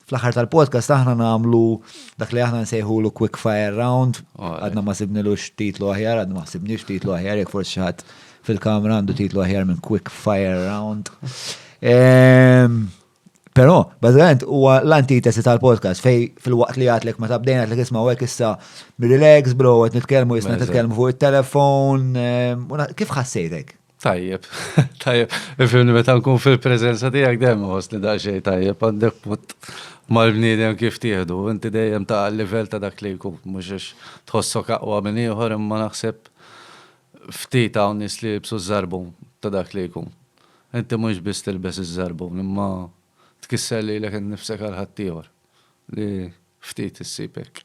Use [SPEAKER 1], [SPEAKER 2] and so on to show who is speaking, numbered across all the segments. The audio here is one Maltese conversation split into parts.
[SPEAKER 1] Fl-aħħar tal-podcast aħna nagħmlu dak li aħna nsejħulu quick fire round, għadna ma sibnilux titlu aħjar, għadna ma sibnix titlu aħjar, jekk forsi xi ħadd fil-kamra għandu titlu aħjar minn quick fire round. Ehm, Però, bazzgħant, huwa l-antitesi tal-podcast fej fil-waqt li għatlek ma tabdejn għatlek isma u issa relax bro, għet nitkelmu jisna nitkelmu fuq il-telefon. Ehm, kif ħassejtek? Tajjeb,
[SPEAKER 2] tajjeb, ifimni meta nkun fil-preżenza tiegħek dejjem iħossni daqsxejn tajjeb għandek punt mal-bniedem kif tieħdu, inti dejjem ta' livell ta' dak li jkun, mhux għax tħossok aqwa minn ieħor imma naħseb ftit hawn nies li jilbsu ż-żarbun ta' dak li jkun. Inti mhux biss tilbes iż-żarbun imma tkisser lilek innifsek għal ħaddieħor li ftit issib hekk.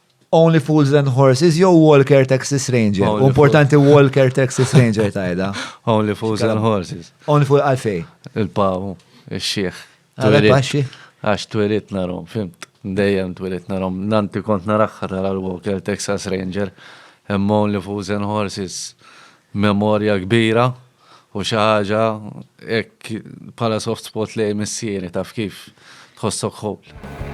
[SPEAKER 1] Only Fools and Horses jew Walker Texas Ranger. U importanti Walker Texas Ranger tajda. Only Fools and
[SPEAKER 2] Horses. Only Fools għalfej.
[SPEAKER 1] Il-pawu,
[SPEAKER 2] il-xieħ. Għalfej.
[SPEAKER 1] Għax twirit
[SPEAKER 2] narom, fimt. Dejjem twirit narom. Nanti kont naraxħar għal Walker Texas Ranger. Imma Only Fools and Horses. Memorja kbira. u xi ħaġa hekk bħala soft spot lejn missieri taf kif tħossok ħowl.